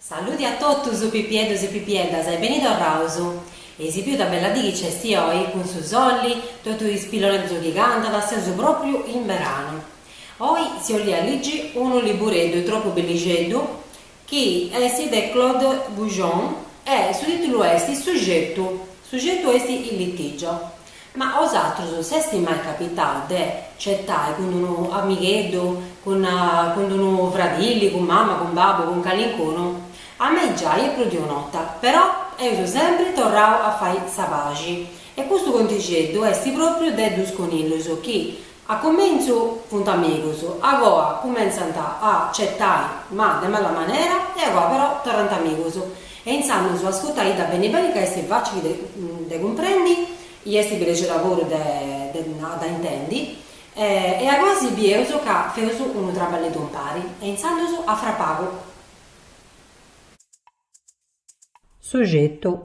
Saludi a totus pipieddos e pipieddas e beni torraus. Eis biu ita bella dì chi nc'est oi, cun su solli, totu is pilloneddus chi cantant, seus pròpriu in beranu. Oi si 'ollia ligi unu libureddu tropu bellixeddu chi est de Claude Boujon e su tìtulu est Su cetu, su cetu est Il litigio. Ma a osatrus s'est mai capitau de cetai cun unu amigheddu, cun cun unu fradilli, cun mama, cun babbu, cun calincunu? A mei giai e prus de un'ota, però eus sempri torrau a fai sa paxi. E custu contixeddu est pròpriu de dus conillus chi, A comentzu funt amigus, agoa cumentzant a cetai ma de mala manera e agoa però torrant amigus e intzandus ascutaidda beni beni ca est facili de cumprendi i est bellixedda puru de a dda intendi e agoa si bieus ca feus unu traballeddu impari e intzandus a fra pagu. Su cetu.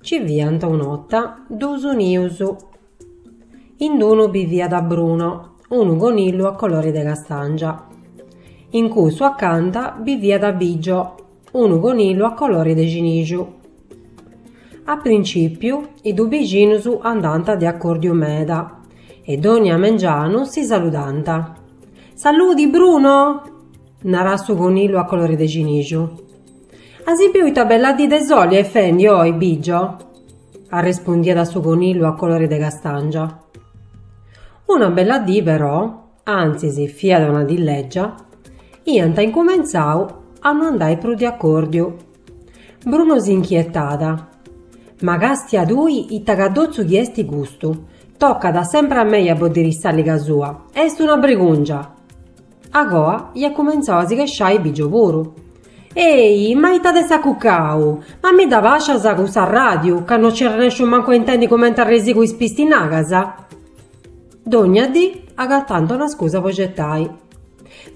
Ci fiant un'ota duus nius. In d'unu biviat Bruno, unu conillu a colori de castàngia. In cussu acanta biviat Bigio, unu conillu a colori de cinixu. A principiu is duus bixinus andant de acordiu meda e dònnia mengianu si saludant. Saludi Bruno! Narat su conillu a colori de cinixu. As biu ita bella dì de soli est fendi oi, Bigio? arrespundiat su conillu a colori de castàngia. Una bella dì però, antzis fiat una dì lègia, iant incumentzau a no andai prus de acòrdiu. Bruno si nchietat, Ma càstia tui ita cadotzu chi esti custu, tocat sempri a mei a boddiri s'àliga sua, est una brigùngia! Agoa iat cumentzau a si chesciai Bigio puru. Ehi, ma ita t'est acucau? Ma mi dda bàscias cussa ràdiu, ca no nci arrennesciu mancu a intendi cumenti arresigu is pistinagas? Dònnia dì agatànt una scusa po cetai.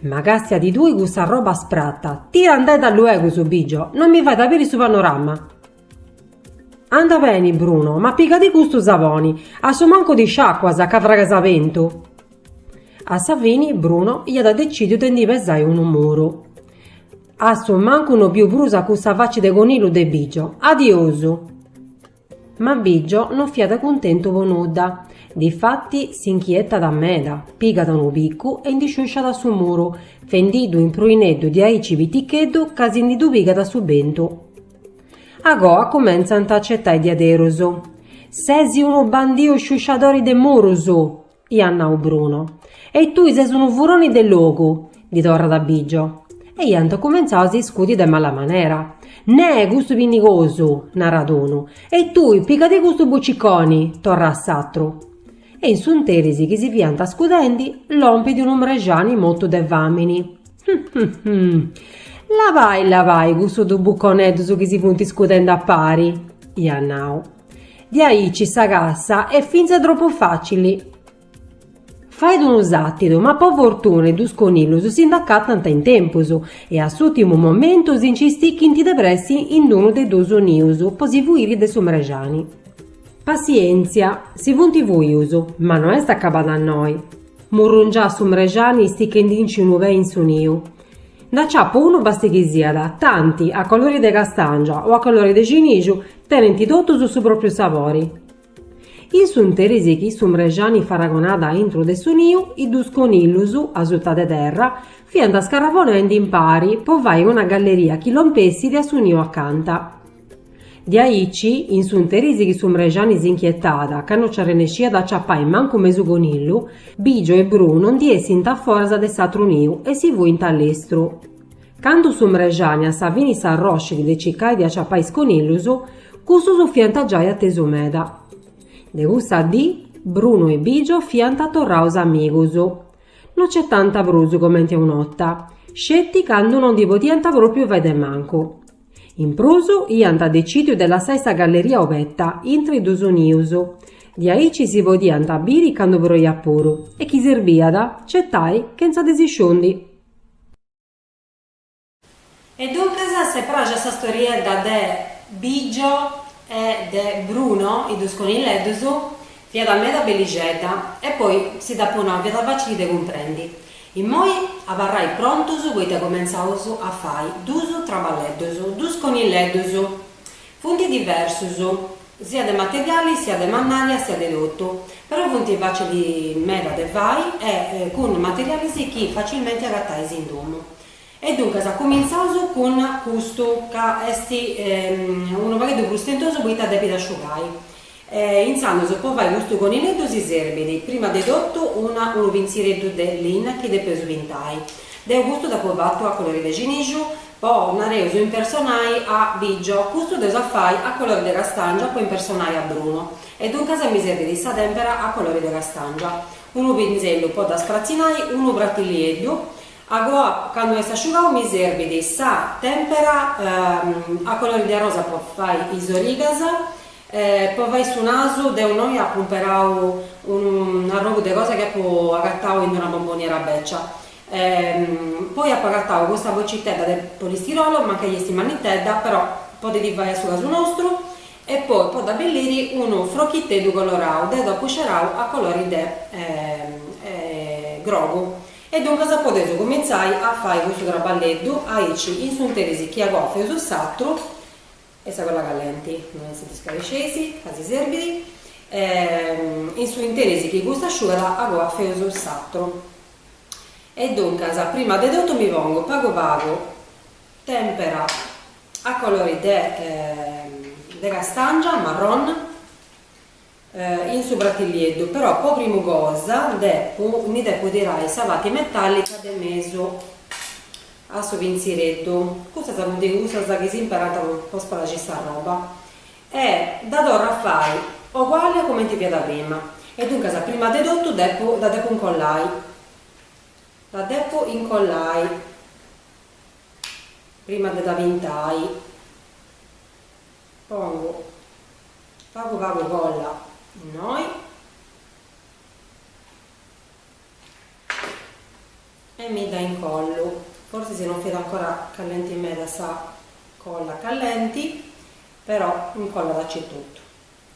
Ma càstiadi tui cussa arroba sprata, tirandedda luegus, Bigio, no mi fait a biri su panorama! Anda beni, Bruno, ma pigadi custu saboni, a su mancu ti sciacuas, ca fragas a bentu. A sa fini Bruno iat decìdiu de ndi pesai unu muru. A su mancu no biu prus a cussa faci de conillu de Bigio. Adiosu! Ma Bigio no fiat cuntentu po nudda. Difati si nchietat meda, pigat unu picu e ndi sciusciat su muru, fendiddu in pruineddu diaici piticheddu ca si ndi ddu pigat su bentu. Agoa cumentzant a cetai diaderus. Ses unu bandiu sciusciadori de murus! iat nau Bruno. E tui ses unu furoni de logu! ddi torrat Bigio. E iant cumentzau a s'iscudi de mala manera. Neh, custu pinnigosu! narat unu. E tui, pigadi custu buciconi! torrat s'atru. E in s'unteris chi si fiant scudendi, lompit unu mrexani motu de famini. Labai, labai cussus dus buconeddus chi si funt iscudendu a pari, iat nau. Diaici sa cassa est fintzas tropu facili. Fait unu satidu, ma po fortuna is dus conillus si nd'acatant in tempus e a s'ùrtimu momentu si nci stichint de pressi in unu de dus nius po si fuiri de su mrexani. Passièntzia, si funt fuius, ma no est acabada a innoi. Murrungiat su mrexani stichendinci unu pè in su niu. Nd'aciapu unu basti chi siat, tanti, a colori de castàngia o a colori de cinixu, tenent totus su pròpiu sabori. In s'unteris chi su mrexani faragonat a intro de su niu, is duus conillus, asuta de terra, fiant scarrabonendi impari po fai una galleria chi lompessit a su niu acanta. Diaici in s'unteris chi su mrexani s'inchietat ca no nci arrennesciat a ciapai mancu mesu conillu, Bigio e Bruno ndi essint a foras de s'atru niu e si fuint a lestru. Candu su mrexani a sa fini s'arroscit de cicai de aciapai is conillus, cussus fiant giai atesu meda. De cussa dì, Bruno e Bigio fiant torraus amigus. No cetànt prus comenti a un'ota, sceti candu no ndi podiant pròpriu fai de mancu. In prus, iant decìdiu de lassai sa galleria obeta, intra is dus nius. Diaici si podiant biri candu proiat puru, e chi serbiat, cetai, chentza de si sciundi. E duncas s'est pràxia sa storiedda de Bigio e de Bruno, is dus conilleddus, Fiat meda bellixedda e poi si dd'apu nau fiat facili de cumprendi. Immoi abarrai prontus poita cumentzaus a fai duus traballeddus, duus conilleddus. Funt diversus, sia de materiali, sia de mannària, sia de totu, però funt facili meda de fai e cun materialis chi facilmenti agatais in domu. E duncas cuminzaus cun custu ca est unu pagheddu prus stentosu poita depit asciugai. Intzandus po fai custu conilleddu si serbit prima de totu una unu pintzireddu de linna chi depeus pintai. Deu custu dd'apu fatu a colori de cinixu po, nareus, impersonai a Bigio, custu dd'eus a fai a colori de castàngia po impersonai a Bruno e duncas mi serbit sa tèmpera a colori de castàngia, unu pinzellu po dda spratzinai, unu pratilieddu, Agoa candu est asciugau mi serbit sa tempera a colori de arrosa po fai is origas po fai su nasu, deu innoi apu imperau unu arrogu de cosa chi apu agatau in una bomboniera becia poi apu agatau custa bocitedda de polistirolo, mancai esti mannitedda però podit fai a su casu nostru e poi po dd'abelliri unu frochiteddu colorau, deu dd'apu scerau a colori de grogu E duncas podeus cumintzai a fai custu traballeddu aici in s'interis chi agoa feus s'atru, e sa colla callenti non si dda scaresceis, ca si serbit, e in su interis chi custa asciugat agoa feus s'atru. E duncas prima de totu mi pongu pagu pagu tempera a colori de de castàngia, marrone, in su pratillieddu, però po primu cosa depu ndi depu tirai sa parti metallica de mesu a su pinzireddu, custas funt cussas chi s'imperant po spraxiri sa roba, e dda torru a fai oguali a cumenti fiat prima, e duncas prima de totu depu dda depu incollai, dda depu incollai prima de dda pintai. Pongu pagu pagu colla innoi e mi dda incollu, forsis si non fiat ancora callenti meda sa colla callenti, però incollat acetotu,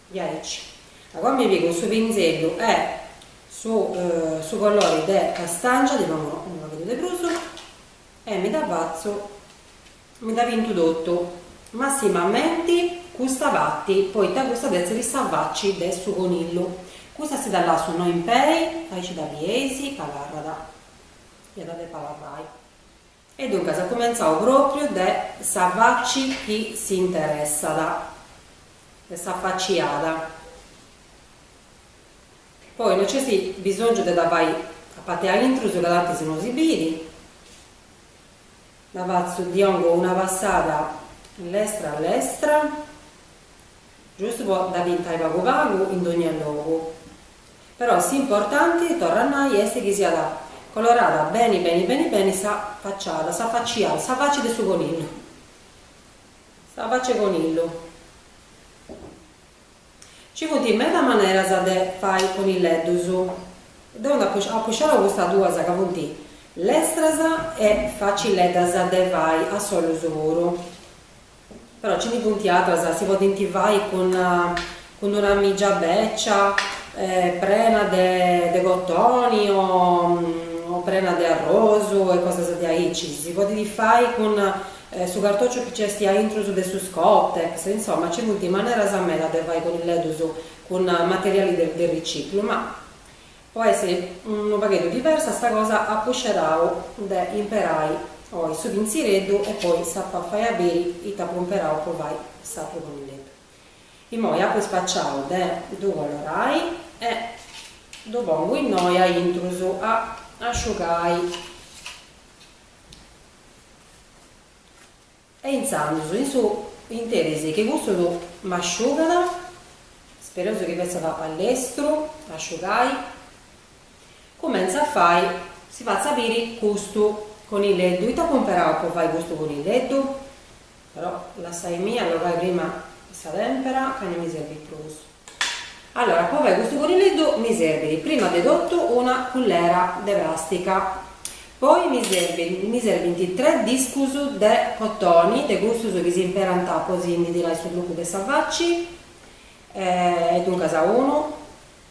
diaici agoa mi pigu su pinzellu e su su colori de castàngia, ddi pongu unu pagheddu de prus e mi dda fatzu Mi dda pintu totu, massimamenti custa pati, poita custa d'essiri sa faci de su conillu. Custa si dda lassu innoi in pei, aici dda bieis, abarrat. Iat a depi abarrai. E duncas cumentzaus propriu de sa faci chi si interessat, de sa faciada. Poi no nc'est bisongiu de dda fai a pati a intrus ca tantis no si biri. Dda fatzu ddi dongu una passada lestra a lestra, giustu po dda pintai pagu pagu in dogna logu. Però s'importanti, torru a nai, est chi siat colorada beni beni beni beni sa facciada, sa facciada, sa faci de su conillu. Sa faci 'e conillu. Ci funt meda maneras de fai conileddus. Deu apu scerau custas duas ca funt lestras e facileddas de fai a solus puru. Però nci ndi funt atras, si podint fai cun cun una mìgia bècia prena de cotoni o prena de arrosu e cosas diaici. Si podit fai cun su cartòciu chi nc'est a intrus de su Scottex, insoma nci funt maneras meda de fai conileddus cun materiali de de riciclu, ma po essi unu pagheddu diversu sa cosa apu scerau de imperai oi su pinzireddu e poi s'apu a fai a biri ita apu imperau po fai s'atru conileddu. Immoi apu spaciau de ddu colorai e ddu pongu innoi a intrus a asciugai. E intzandus in su interis chi custu m'asciugat, spereus chi fetzat a lestru a asciugai, cumentzu a fai, si fatzu a biri custu conileddu, ita apu imperau po fai custu conileddu? Però lassaimì allogai prima sa tempera ca no mi serbit prus. Allora, po fai custu conileddu mi serbit prima de totu una cullera de plàstica, poi mi serbit mi serbint tres discus de cotoni, de cussus chi s'imperant po si ndi tirai su trucu de sa faci, e duncas unu,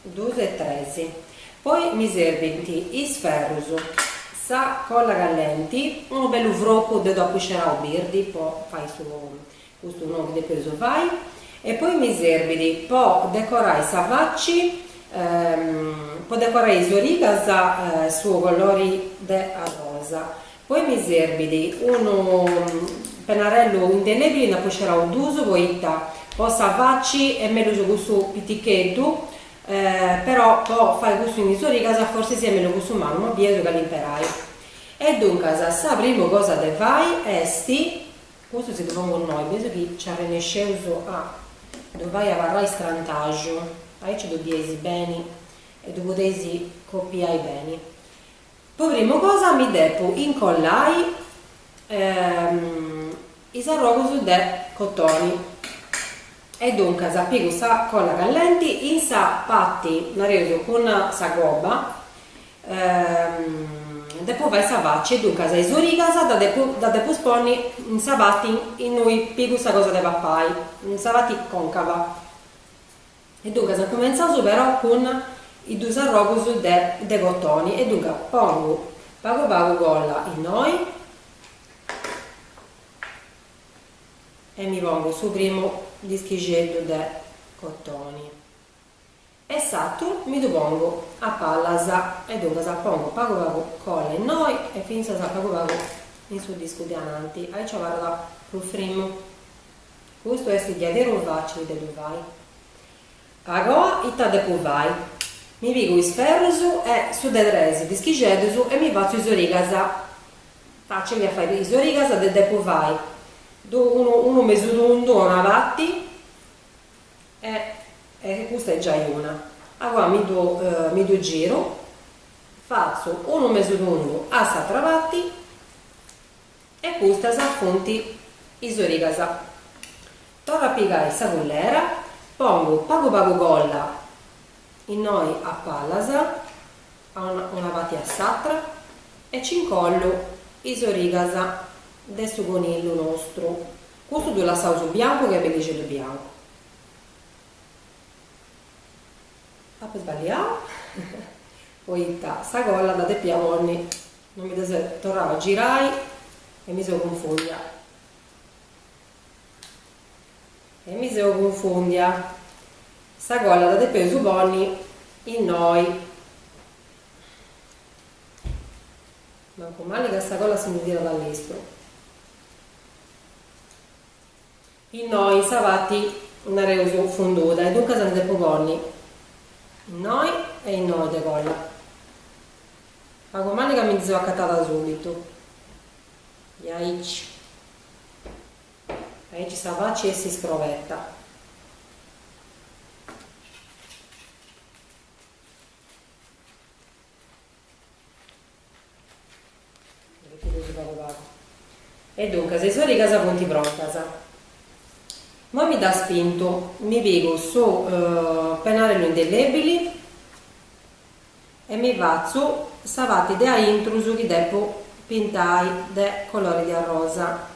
duus e tres, poi mi serbint is ferrus, sa colla callenti, unu bellu frocu deu dd'apu scerau birdi po fai su Custu nuu chi depeus fai. E poi mi serbit po decorai sa faci, po decorai is origas su colori de arrosa. Poi mi serbit unu penarellu indelèbili nd'apu scerau duus poita po sa faci est mellus cussu piticheddu, però po fai cussu in is origas forsis est mellus cussu mannu, ma bieus cali imperai. E duncas sa primu cosa de fai est Custu si ddu pongu innoi, bieus chi nci arrennesceus a ddu fai abarrai strantaxu, aici ddu bieis beni e ddu podeis copiai beni. Po primu cosa mi depu incollai is arrogus de cotoni e duncas pigu sa colla callenti in sa parti, nareus, cun sa gobba Depo fai sa faci e duncas a is origas dda depus ponni in sa parti innui pigu sa cosa de papai, in sa parti concava, e duncas incumentzaus però cun is dus arrogus de cotoni e duncas pongu pagu pagu colla innoi e mi pongu su primu dischixeddu de cotoni. E s'atru mi ddu pongu a pallas e duncas pongu pagu pagu colla innoi e fintzas pagu pagu in su discu de ananti, aici abarrat prus frimu. Custu est diaderus facili de ddu fai. Agoa ita depu fai? Mi pigu is ferrus e su de tres dischixeddus e mi fatzu is origas. Facili a fai is origas depu fai unu mesu tundu a una parti. E custa est giai una. Agoa mi ddu mi ddu giru, fatzu unu mesu tundu a s'atra parti e custas funt is origas. Torru a pigai sa cullera, pongu pagu pagu colla innoi a pallas, a una una parti e a s'atra e nci incollu is origas de su conillu nostru. Custu ddu lassaus biancu ca est bellixeddu biancu. Apo sballiau poita sa colla dda depia ponni no mi dda depu torrai a girai e mi seu cunfòndia e mi seu cunfòndia sa colla dda depeus ponni innoi mancu mali ca sa colla si ndi tirat a lestru Innoi sa parti, nareus, funguda e duncas ndi depu ponni innoi e innoi de colla. Mancu mali ca mi ndi seu acatada subitu. E aici. Aici sa faci est iscroberta. E duncas is origas funt prontas. Imoi mi ddas pintu, mi pigu su penarellu indellebili e mi fatzu sa parti de aintrus chi depu pintai de colori de arrosa.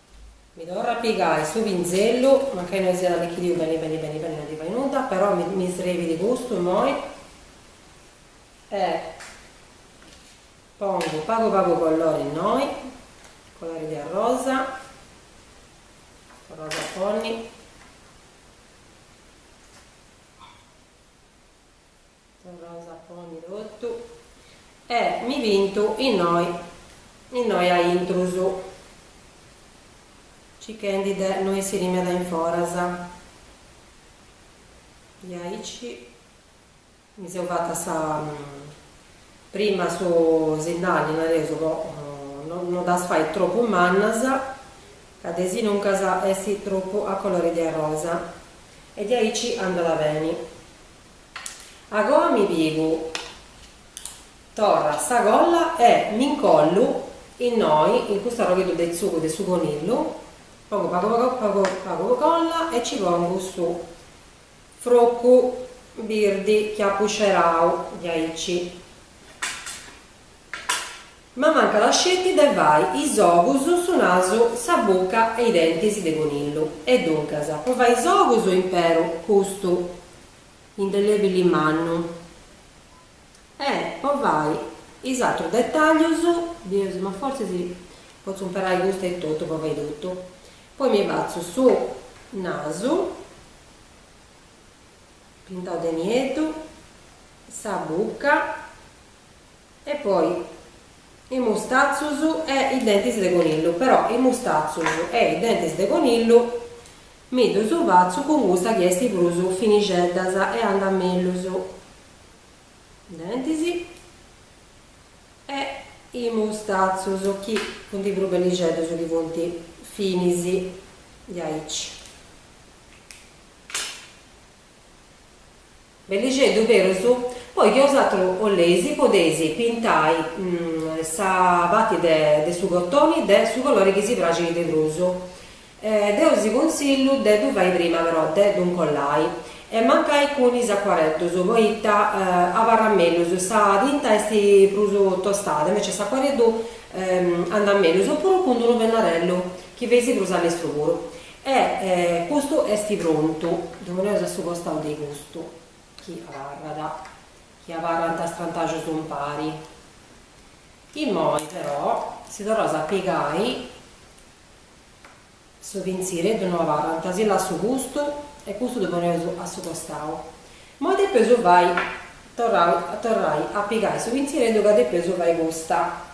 Mi torra a pigai su pinzellu, mancai no siat allichidiu beni beni beni beni no ndi fait nudda, però mi srebit custu immoi e pongu pagu pagu collori innoi, collori de arrosa, torraus a ponni. Torraus a ponni totu e mi pintu innoi innoi a intrus, circhendi de no essiri meda in foras. Diaici mi seu fata sa prima su sindali, nareus, po no ddas fai tropu mannas, ca desinuncas est tropu a colori de arrosa e diaici andat beni. Agoa mi pigu torra sa colla e mi ncollu innoi in custu arrogheddu de tzugu de su conillu, pongu pagu pagu pagu colla e ci pongu su frocu birdi chi apu scerau diaici. M'amancat asceti de fai is ogus, su nasu, sa buca e i dentis de conillu. E duncas, po fai is ogus imperu custu indelebili mannu? E po fai is atrus detaglius, bius, ma fortzis potzu imperai custu etotu po fai totu. Poi mi fatzu su nasu pintau de nieddu, sa bucca. E poi is mustatzus e is dentis de conillu, però is mustatzus e is dentis de conillu mi ddus fatzu cun custa chi est prus finixeddas e andat mellus. Dentis e is mustatzus chi funt prus bellixeddus chi funt finis diaici. Bellixeddu berus, poi chi osatru 'oleis podeis pintai sa pati de su cotoni de su colori chi si praxit de prus. Deu si cunsillu de ddu fai prima però de ddu 'ncollai e mancai cun is acuareddus poita abarrat mellus, sa tinta est prus tostada invece s'acuareddu andat mellus, oppuru cun d-unu pennarellu chi feis prus allestru puru. E custu est prontu, ddu poneus a su costau de custu chi abarrat, chi abarrant strantaxus umpari. Immoi però si torraus a pigai su pintzireddu no abarrant, si lassu custu e custu ddu poneus a su costau. Immoi depeus fai, torrai a pigai su pintzireddu ca depeus fai custa.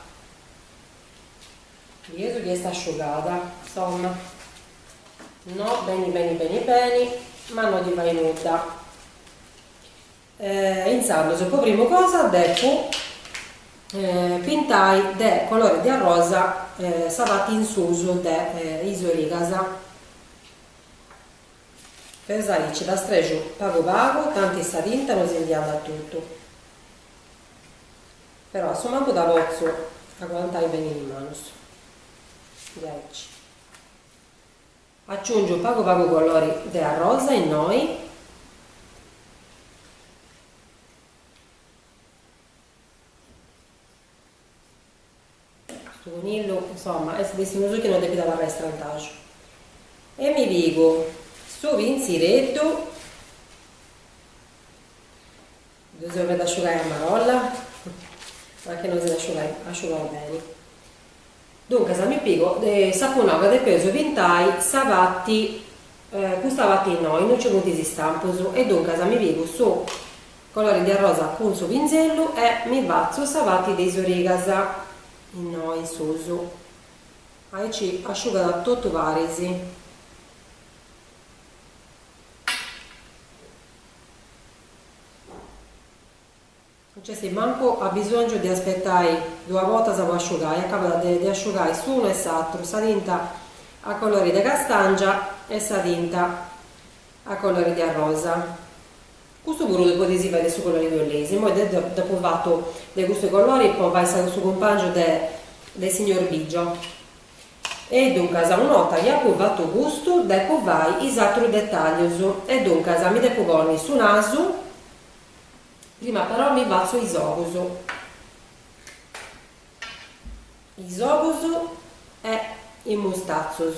Chi est chi est asciugada. Insomma, no, beni beni beni beni, ma no ti fai nudda. Intzandus, po primu cosa depu pintai de colori de arrosa sa parti in susu de is origas. Perou aici dda strexiu pagu pagu, tanti sa tinta no si ndi andat totu. Però a su mancu dda potzu aguantai beni in manu. Diaici. Aciungiu pagu pagu colori de arrosa innoi. Custu conillu, insomma, est de su matessi chi non depit abarrai strantaxu. E mi pigu su pintzireddu, ddu seu faendi asciugai a marolla, ma chi non si nd'asciugat, asciugau beni. Duncas, mi pigu s'apunta ca depeus pintai sa parti, custa parti innoi, innui nci funt is istampus, e duncas mi pigu su Colori de arrosa cun su pinzellu e mi fatzu sa parti de is origas, innoi in susu, aici asciugat totu paris. Non nc'est mancu abisongiu de aspetai duas bortas po asciugai, acabat de asciugai s'unu e s'atru, sa tinta a colori de castàngia e sa tinta A colori de arrosa. Custu puru ddu podis fai de su colori chi 'oleis. Immoi deu dd'apu fatu de custu colori po fai sa su cumpangiu de de signor Biggio. E duncas, una 'orta chi apu fatu custu, depu fai is atrus detaglius. E duncas, mi depu ponni su nasu, prima però mi fatzu is ogus. Is ogus e is mustatzus.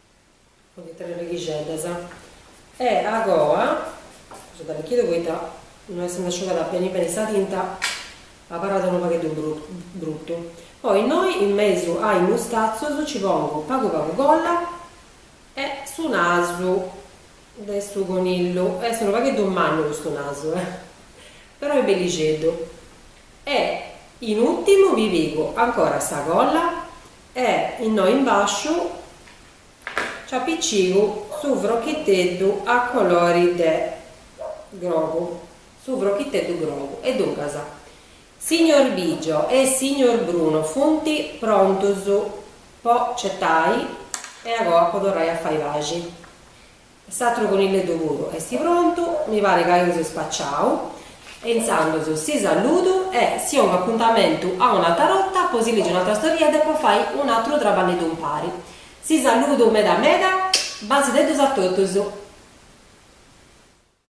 funt tres righixeddas e agoa est allichidiu poita no est nd'asciugada beni beni sa tinta abarrat unu pagheddu brutu poi innoi in mesu a is mustatzos nci pongu pagu pagu colla e su nasu de su conillu est unu pagheddu mannu custu nasu eh però est bellixeddu e in útimu mi pigu ancora sa colla E innoi in bàsciu nci apìcigu su frochiteddu a colori de grogu, su frochiteddu grogu. E duncas, signor Biggio e signor Bruno funt prontus po certai e agoa po torrai a fai paxi. S'atru conilleddu puru esti prontu, mi pari ca eus spaciau, e intzandus si saludu e si ongu apuntamentu a un'atra borta po si ligi un'atra storiedda e po fai un'atru traballeddu umpari. Si saludu meda meda, basideddus a totus.